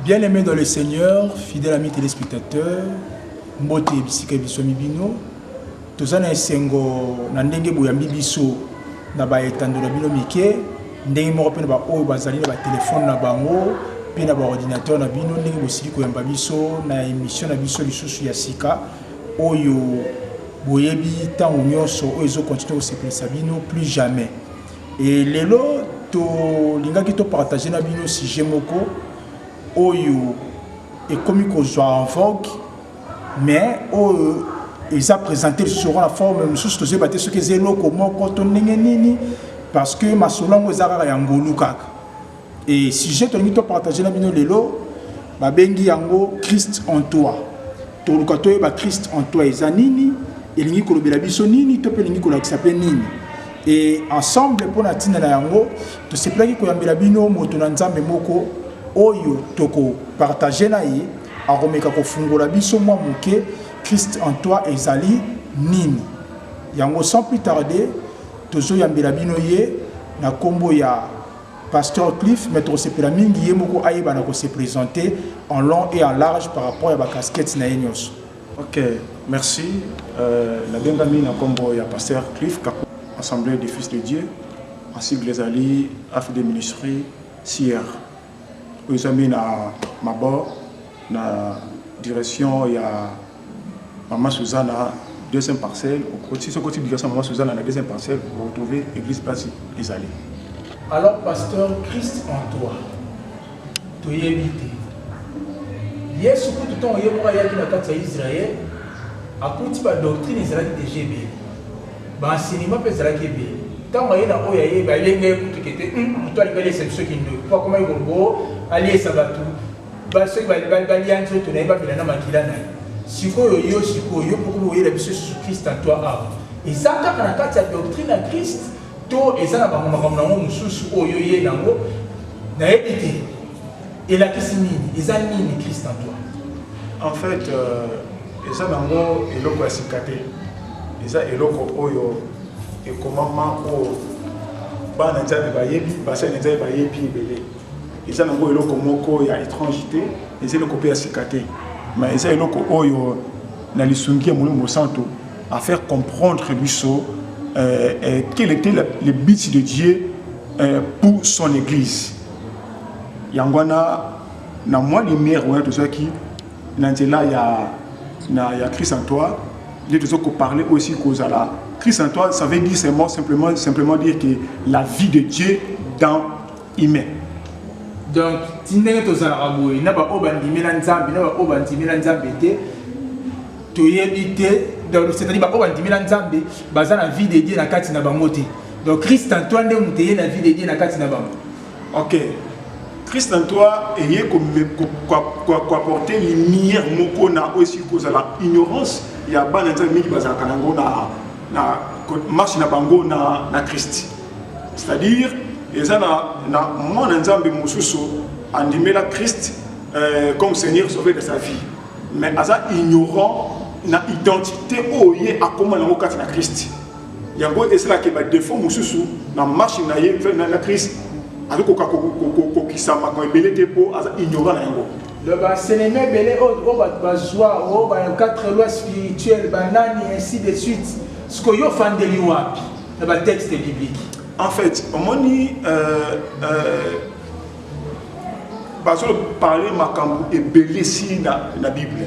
Bien aimé dans le Seigneur, fidèle ami téléspectateur, mbote bisika biso mibino, toza na esengo na ndenge boyambi biso na ba etando na bino mike, ndenge moko mpe na ba oyo bazali na ba telefone na bango mpe na ba ordinateur na bino, ndenge bosili koyamba biso na emission na biso lisusu ya sika oyo boyebi ntango nyonso oyo ezokontinue kosepelisa bino plus jamais Et lelo tolingaki topartage na bino sujet moko oyo ekomi kozwa en vogue mais oyo eza présente lisusu lokola forme mosusu tozoyeba te soki eza eloko moko to ndenge nini parce que masolo yango eza kaka ya ngolu kaka Et sujet tolingi to partager na bino lelo babengi yango Christ en toi. Toluka toyeba Christ en toi eza nini, elingi kolobela biso nini to mpe elingi kolakisa mpe nini. Et ensemble mpo na ntina na yango tosepelaki koyambela bino moto na Nzambe moko oyo tokopartage na ye akomeka kofungola biso mwa moke Christ en toi ezali nini. Yango sans plus tarder tozoyambela bino ye na nkombo ya Pasteur Cliff, mais tosepela mingi ye moko ayeba na ko se presenter en long et en large par rapport ya ba casquettes na ye nionso. Ok, merci. Euh, nabengami na kombo ya Pasteur Cliff Kaku, Assemblée des Fils de Dieu, en sigle ezali Affaires de Ministry CR. Oyo ezali na mabor na direction ya Maman Suzana deuxième parcelle okoti soki okoti bigasama Maman Suzana na deuxième parcelle vous retrouvez église place ezali. Alors pasteur Christ en toi toyebi te Yesu kutu ntango ye moko ayaki na kati ya Israël akuti ba doctrine ezalaki deja ebele ba enseignement mpe ezalaki ebele ntango aye na oyo aye balenga ye kutu kete moto alingaliesa biso kindoki mpo akomaki kolobo aliesa bato Ba soki ba ba ba lia nzoto na ye ba bela na makila na ye. Sikoyo yo sikoyo yo poko boyela biso sous Christ en toi awa. Eza kaka na kati ya doctrine ya Christ to eza na bango makambo na ngo mususu oyo ye na ngo na yebi te. Elakisi nini? Eza nini Christ en toi? En fait euh, eza na ngo eloko ya sika te. Eza eloko oyo ekomama oyo bana nzambe bayebi basali nzambe bayebi ebele eza nango eloko moko ya étrange te eza eloko mpe ya sika te ma eza eloko oyo na lisungi ya molimo mosantu à faire comprendre biso euh, euh, quel était la, le but de dieu euh, pour son église yango wana na mwa lumière wana tozwaki na nzela ya, na, ya christ en toi nde tozo koparle oyo esili kozala christ en toi ça veut dire seulement simplement, simplement dire que la vie de dieu dans humain donc ti ndenge tozalaka boye na baoyo bandimela nzambe na baoyo bandimela nzambe te toyebi te donc c'est-à-dire baoyo bandimela nzambe baza na vie de dieu na kati na bango te donc christ en toi nde moto eye na vie de dieu na kati na bango ok christ en toi eye koapporte lumière moko na oyo esili kozala ignorance ya bana nzambe mingi bazalaka nango na marche na bango na christ c'est-à-dire eza na, na mwana nzambe mosusu andimela christ euh, comme seigneur sauver de sa vie mais aza ignorant na identité oyo ye akoma nango kati na christ yango esalaka badefo mosusu na marche na ye na christ azokoka kokokisa makambo ebele te mpo aza ignorant na yango baseleme ebele oyo oh, oh, bato bazwa oyo oh, ba 4 loi spirituelle banani ainsi de suite sikoyo ofandeli wapi na ba texte biblique en fait omoni euh, euh, bazo parler makambo ebele si na, na bible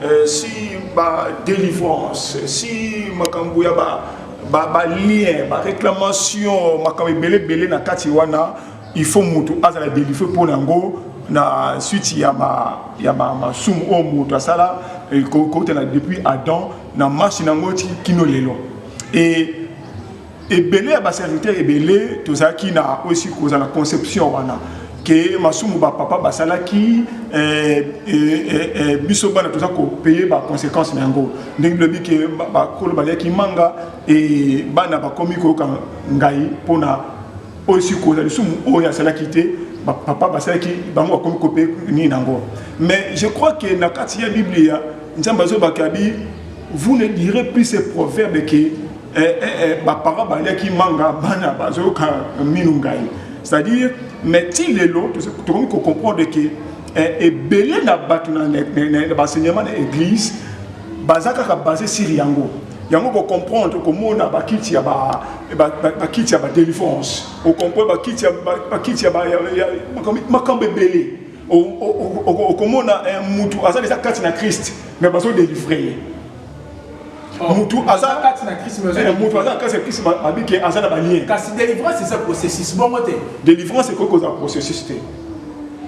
euh, si ba délivrance si makambo ya ba ba, ba lien ba réclamation makambo ebele ebele na kati wana il faut moto azala délivré mpo na yango na suite ya ma ya ma masumu oyo moto asala kokutana depuis adam na marche na yango ti kino lelo et ebele ya baserviteur ebele tozalaki na osi koza na conception wana ke masumu bapapa basalaki eh, eh, eh, biso bana toza kopeye baconséquence na yango ndenge bilobi ke bakolo baliaki manga e bana bakomi koyoka ngai mpona oyo sikoza lisumu oyo asalaki te bapapa basalaki bango bakomi kopeye nini na yango mais je crois ke na kati ya biblia nzambe azobaka bi Vous ne direz plus ce proverbe que eh, eh, eh, ba parents baliaki manga bana bazoyoka minu ngai. C'est-à-dire mais ti lelo tokomi ko comprendre que eh, ebele na bato na baenseignement na église baza kaka base sur yango yango kocomprendre okomona bakiti ya bakiti ya badelivrance okomprendre bakiti ya makambo ebele okomona eh, mutu aza deja kati na christ mais bazo delivre ye oh, mutu aza eh, kati na christ mutu aza kati na christ mabike aza na balien kasi délivrance eza processus bongo te délivrance ekoki kozala processus te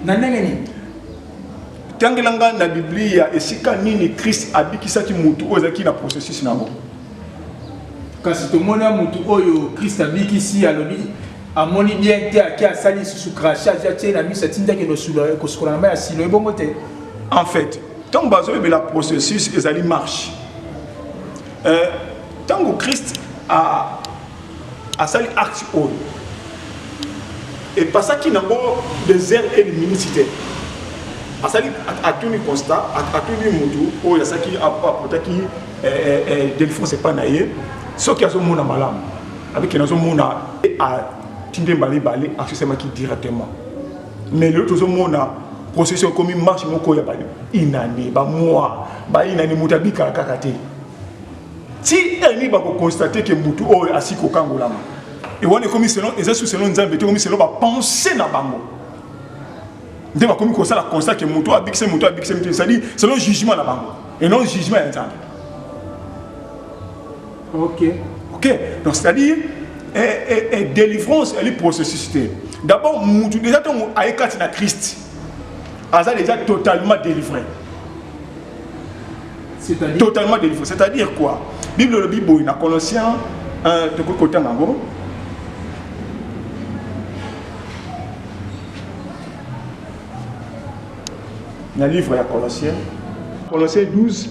na ndenge nini tangela ngai na biblia esika nini christ abikisaki mutu oyo ezalaki na processus na yango kasi tomona mutu oyo christ abikisi alobi Amoni bien te ake asali lisusu crachage atie na miso atindi akende kosukola na mai ya silo ebongo te en fait ntango bazoyebela processus ezali marche euh, ntango christ asali acte oyo epasaki nango des heures et des minutes te asali atuni constat atuni motu oyo asaki apotaki eh, eh, eh, delphonse epai na ye soki azomona malamu avec que nazomona atindi mbala mibale asesemaki directement mais lelo tozomona processus ekomi marche moko ya bainane bamoi bainane moto abikala kaka te ti eni bakokonstate ke motu oyo asi kokangolama e wana ekomi selon eza su selon nzambe te ekomi selon bapense na bango nde bakomi kosala constat ke motu abikise motu abikise motu c'est-à-dire selon jugement na bango et non jugement ya nzambe Ok. Ok. Donc c'est-à-dire et, et, et délivrance elle est processus te. D'abord mutu déjà tango ayekati na Christ. Aza déjà totalement délivré. C'est-à-dire totalement délivré. C'est-à-dire quoi? Bible le Bible na Colossiens 1 tokoki kotanga yango na livre ya Colossiens Colossiens 12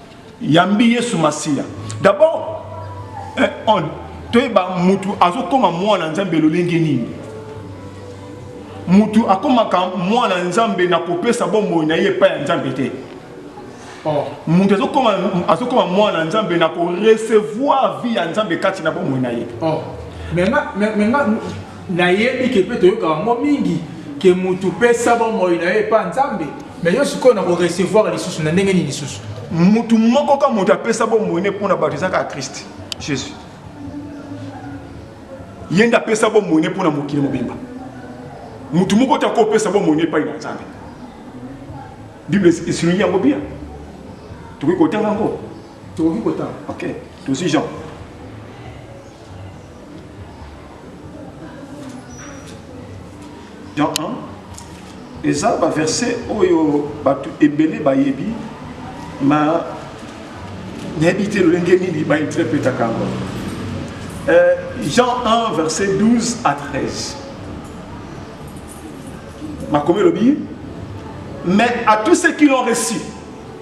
Yambi Yesu Masiya. D'abord, eh, on, toyeba mutu azokoma mwana Nzambe lolenge nini? Mutu akomaka mwana Nzambe na kopesa bomoi na ye epai ya Nzambe te. Oh. Mutu azokoma azokoma mwana Nzambe na ko recevoir vie ya Nzambe kati na bomoi na ye. Oh. Mais nga mais nga Nayebi ke pe toyokaka yango mingi ke mutu pesa bomoi na yo epa Nzambe, mais yo sikoyo na ko recevoir lisusu na ndenge nini lisusu? Mutu moko ka mutu apesa bomoi ne pona bato eza kaka Christ Jesus. Ye nde apesa bomoi ne pona mokili mobimba. Mutu moko te akopesa bomoi ne epai na Nzambe. Bible esilongi yango bien. Tokoki kotanga yango. Tokoki kotanga. Okay. Tosi Jean. Jean 1 eza baverse oyo bato ebele bayebi ma nayebi te lolenge nini bainterpretaka yango euh, jean 1 verset 12 à 13 makomi elobi mais à tous ceux qui l'ont reçu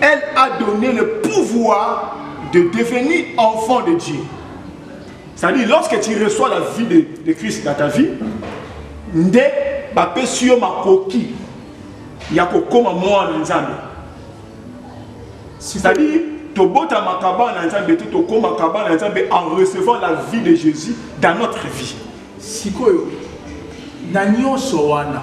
Elle a donné le pouvoir de devenir enfant de Dieu. C'est-à-dire, lorsque tu reçois la vie de, de Christ dans ta vie, nde bapesi yo makoki ya kokoma mwana na nzambe c'est-à-dire tobotamaka bana na nzambe te tokomaka bana na nzambe en recevant la vie de jésus dans notre vie sikoyo na nyonso wana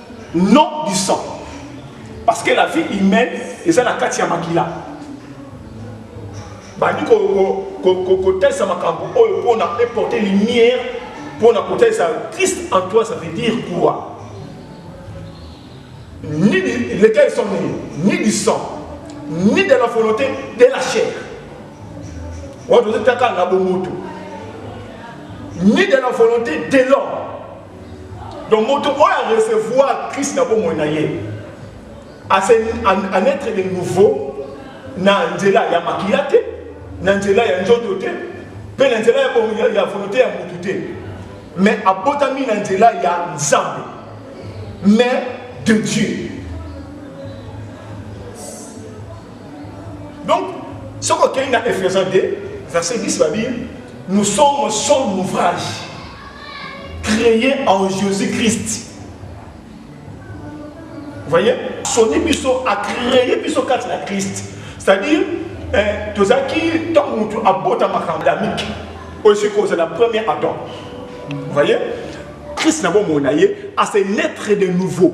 non du sang parce que la vie humaine eza na kati ya makila bandi kotalisa makambo oyo mpona eporte lumière mpona kotalisa christ en toi ça veut dire quoi ni lesquels sont nés ni du sang ni de la volonté de la chair wana tozotaka na bomoto ni de la volonté de l'homme Donc moto oyo a recevoir Christ na bomoi na ye en être de nouveau na nzela ya makila te na nzela ya nzoto te mpe na nzela ya volonté ya motu te mais abotami na nzela ya nzambe mais de dieu donc soki okei na ephésiens 2 verset 10 babi nous sommes son ouvrage Créé en Jésus-Christ. Vous voyez Soni biso a créé biso kati na Christ. C'est-à-dire, eh, tozaki ntango motu abota makambo adamike oyo soki kozala premier adam vous voyez christ na bomoi na ye ase naître de nouveau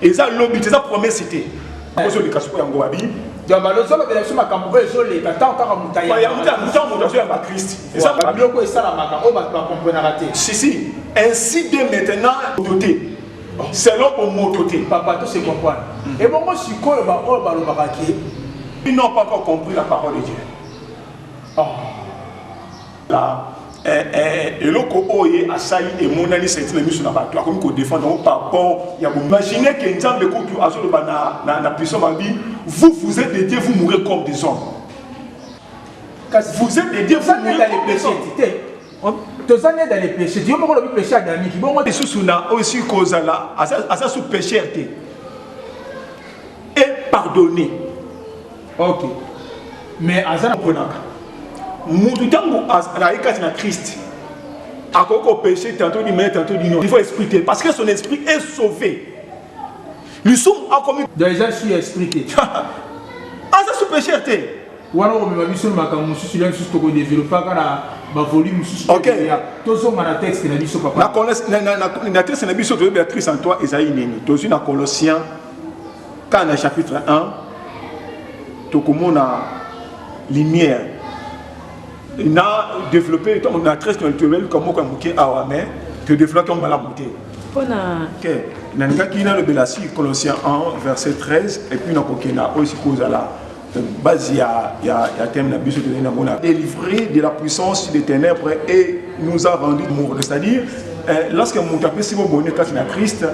eza lobi te eza promesse te akozoleka sikoyo yango abi balozolobela biso makambo oyo ezoleka ntango kaka motayantango moto azoyamba kristi eza biloko esalamaka oyo bato bakomprenaka te sisi ainsi de maintenant moto te selon bomoto te papa to se comprendre hmm. ebongo sikoyo baoyo balobaka ke ils n'ont pas encore compris la parole de dieu oh. eh, eh, eloko oyo ye asali emonani senti na miso na bato akomi kodefendre yango par rapport ya boimagine ke nzambe kutu azoloba na, na, na puissant mabi vous vous êtes dédié vous mourrez comme des hommes kasi vous êtes dédié vous mourrez comme des hommes toza nde dans les péchés yo moko olobi péché adamiki bongo lisusu na oyo esili kozala aza sous pécheur te epardonne ok mais aza na konaka mutu ntango azali kati na christ akoki kopeshe tantôt du mai tantôt du nord il faut esprit te parce que son esprit est sauvé lisumu akomi donc eza su ya esprit te aza su pécheur te wana okomema biso na makambo mosusu ya mosusu tokodeveloppaka na bavolume mosusu tozonga na texte na biso papa na texte na biso toyebi ya christ en toi ezali nini tozwi na colossien Kaka na chapitre 1 tokomona lumière na développer donc na très naturel comme moko ya moke awa mais to développer yango malamu te mpona te nalingaki nalobela si colossien 1 verset 13 epuis nakokenda oyo sikoyo ozala base ya, ya, ya thème na biso tozali nango na délivré de la puissance des ténèbres et nous a rendu morne c'est-à-dire eh, lorsque moto apesi bobone kati na krist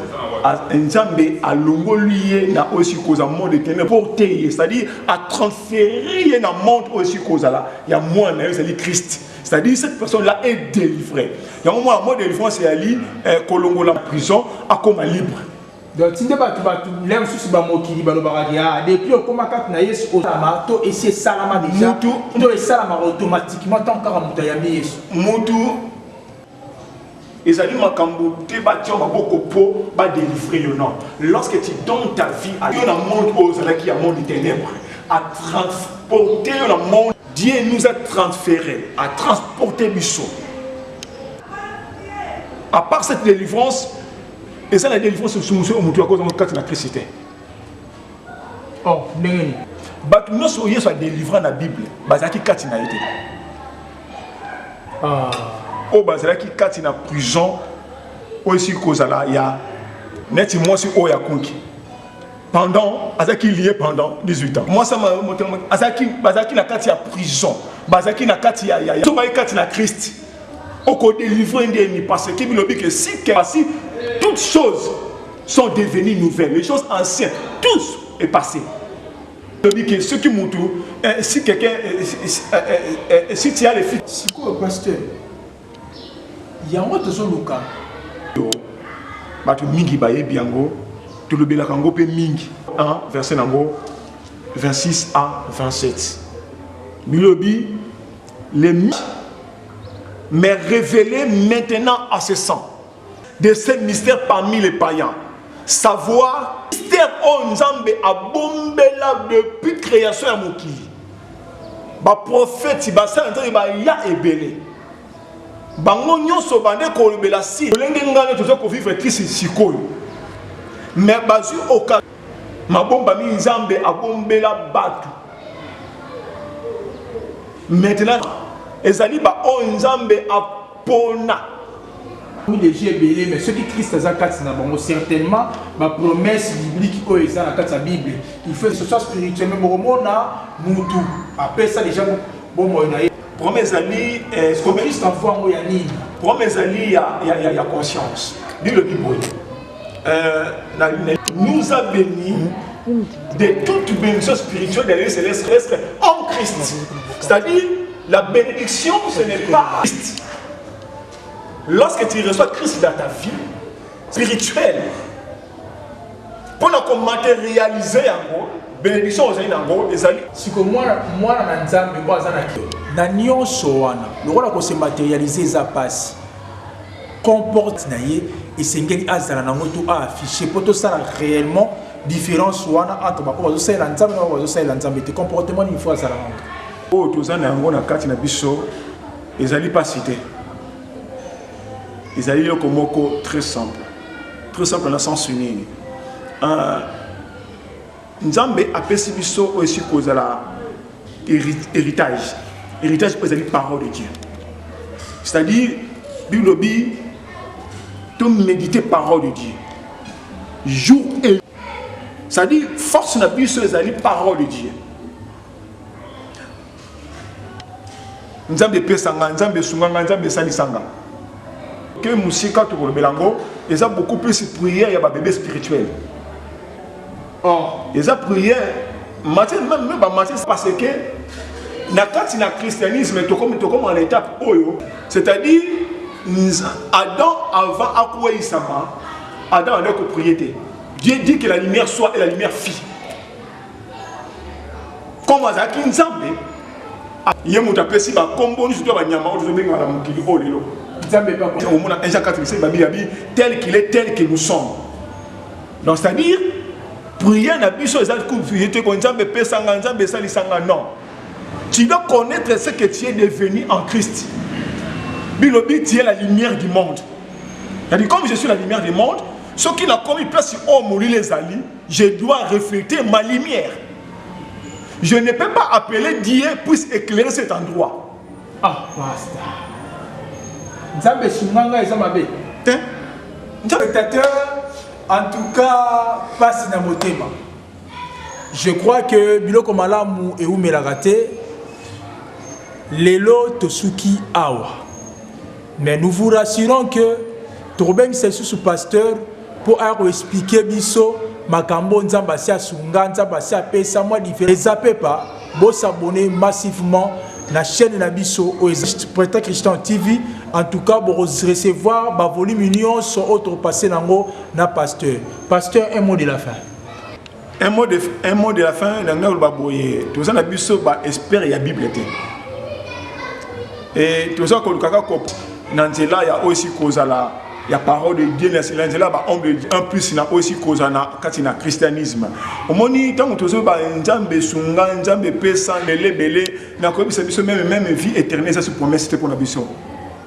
nzambe alongoli ye na oyo esili kozala monde de ténèbres pour te ye c'est-à-dire atransfere ye na monde oyo esili kozala ya mwana na yo ezali krist c'est-à-dire cette personne là est délivrée yango mwana mwa délivrance eyali eh, kolongola prison akoma libre Donc tinde batu batu lem susu ba mokili balobaka ke ah depuis okoma kati na Yesu osalama to esi esalama deja mutu to esalama automatiquement tant kaka mutu ayambi Yesu mutu ezali makambo te batya maboko mpo badelivre yo non lorsque tu donne ta vie à yo na monde oyo ozalaki ya monde ténèbre à transporter yo na monde dieu nous a transféré à transporter biso à part cette délivrance eza na delivrance mosumusu oyo moto yakozanga kati na kristi te oh, ndenge nini bato nyonso oyo yesu adelivra na bible bazalaki kati na ye te ah. oyo bazalaki kati na prison oyo esili kozala ya neti mwasi oyo akonki pendant azalaki lie pendant 18 ans mwasi azalaki bazalaki na kati ya prison bazalaki na kati ya yaya soki bazalaki kati na krist okodelivre ndeni parce que bilobi ke si kasi toutes choses sont devenues nouvelles les choses anciennes tous est passé lobi ke soki mutu eh, si quelqu'un eh, eh, si tu as les filles sikoyo pasteur yango tozoluka bato mingi bayebi yango tolobelaka yango mpe mingi 1 verset na yango 26 a 27 bilobi les mais révélé maintenant à ses sangs de ce mystère parmi les païens savoir mystère oyo nzambe abombela depuis création ya mokili baprofeti basala nzambe baya ebele bango nyonso bande kolobela si lolenge ngano toza kovivre kisi sikoyo mais bazwi oka mabombami nzambe abombela bato maintenant ezali baoyo nzambe a pona. Oui les yeux ebele mais soki Christ aza kati na bango certainement ba promesses bibliques oyo eza na kati ya Bible il faut ce soit spirituel mais bokomona mutu apesa déjà bomoi na ye prome ezali eh, Christ afuango ya nini prome ezali ya, ya, ya, ya conscience bilobi boye Euh, nous a bénis de toute bénédiction spirituelle des lieux célestes en Christ. C'est-à-dire, la bénédiction, ce n'est pas Christ. Lorsque tu reçois Christ dans ta vie spirituelle, pour qu'on matérialise yango, bénédiction aux yango ezali siko mwana mwana na nzambe mpo aza na na nyonso wana lokola ko se matérialiser eza pasi comporte na ye esengeli azala nango to a affiche mpo tosala réellement différence wana entre baoyo bazosalela nzambe na baoyo bazosalela nzambe te comportement nini fo azala nango oyo toza na yango na kati na biso ezali mpasi te ezali eloko moko très simple très simple na sens nini ah, Nzambe apesi biso oyo esi kozala héritage. Héritage mpo ezali parole de Dieu. C'est-à-dire, Bible lobi to méditer parole de Dieu. Jour et c'est-à-dire force na biso ezali parole de Dieu. Nzambe pesa nga, Nzambe sunga nga, Nzambe salisa nga. Ke musika tokolobela ngo, eza beaucoup plus prière ya ba bebe spirituel. Or, eza prière, matière, même, même ba matière, parce que, na kati na christianisme, tokomi, tokomi en étape oyo, c'est-à-dire, Adam avant akweyisama, Adam andaki kopriye te. Dieu dit que la lumière soit et la lumière fit. comme azalaki nzambe ye moto apesi bakombo nyonso to banyama oyo tozobengaka na mokili oyo lelo omona un jean 4 misali babili abi tel qu'il est tel que nous sommes donc c'est à dire prière na biso eza ko nzambe epesanga nzambe esalisanga non tu dois connaître ce que tu es devenu en christ bilobi tu es la lumière du monde c'est-à-dire comme je suis la lumière du monde soki nakomi place oyo molili ezali Je dois refléter ma lumière. Je ne peux pas appeler Dieu puisse éclairer cet endroit. Ah, pasta. Nzambe sunganga eza mabe. Te. Spectateur, en tout cas, passe na motema. Je crois que biloko malamu et oumelaka te. Lelo tosuki awa. Mais nous vous rassurons que tokobengisa lisusu pasteur mpo aya koexplike biso makambo nzambe asi asunga nzambe asi apesa mwa difere eza pepa bosabone massivement na chaîne na biso oyo eza preta christian tv en tout cas bokorecevoir bavolume nyonso oyo tokopasse nango na pasteur pasteur un mot de la fin un mot de, un mot de la fin na ngai oloba boye toza na biso ba espere ya bible te e toza koluka kaka na nzela ya oyo esi kozala ya parole de dieu na nzela ya baombre en plus na oyo esi kozala na kati na christianisme omoni ntango tozoyeba nzambe esunga nzambe epesa belebele na koyebisa biso meme meme vie éternel eza si promesse te mpo na biso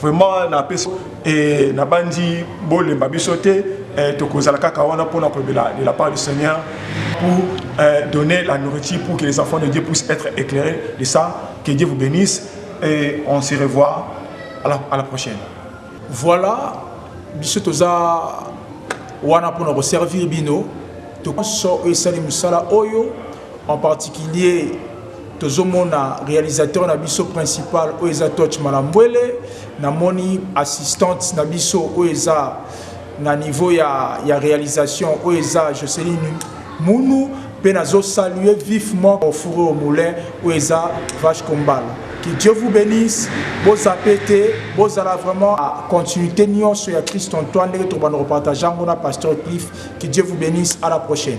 vraiment na pesi eh, na bandi bolemba biso te eh, tokozala kaka wana mpona kolobela de la part du seigneur pour eh, donner la nourriture pour que les enfants de dieu puissent être éclairés de ça que dieu vous bénisse et on se revoit à la, à la prochaine voilà biso toza wana mpona koservir bino tokoso oyo esali mosala oyo En particulier tozomona realisateur na biso principal oyo eza Toch Malambwele, namoni assistante na biso oyo eza na niveau ya, ya realisation oyo eza Joceline Munu mpe nazo saluer vivement ofure au moulin oyo eza Vache Kombala. Que Dieu vous bénisse, bozape te, bozala vraiment à continuité nyonso ya Christ Antoine ndenge tokobanda kopartage yango na Pasteur Cliff. Que Dieu vous bénisse, à la prochaine.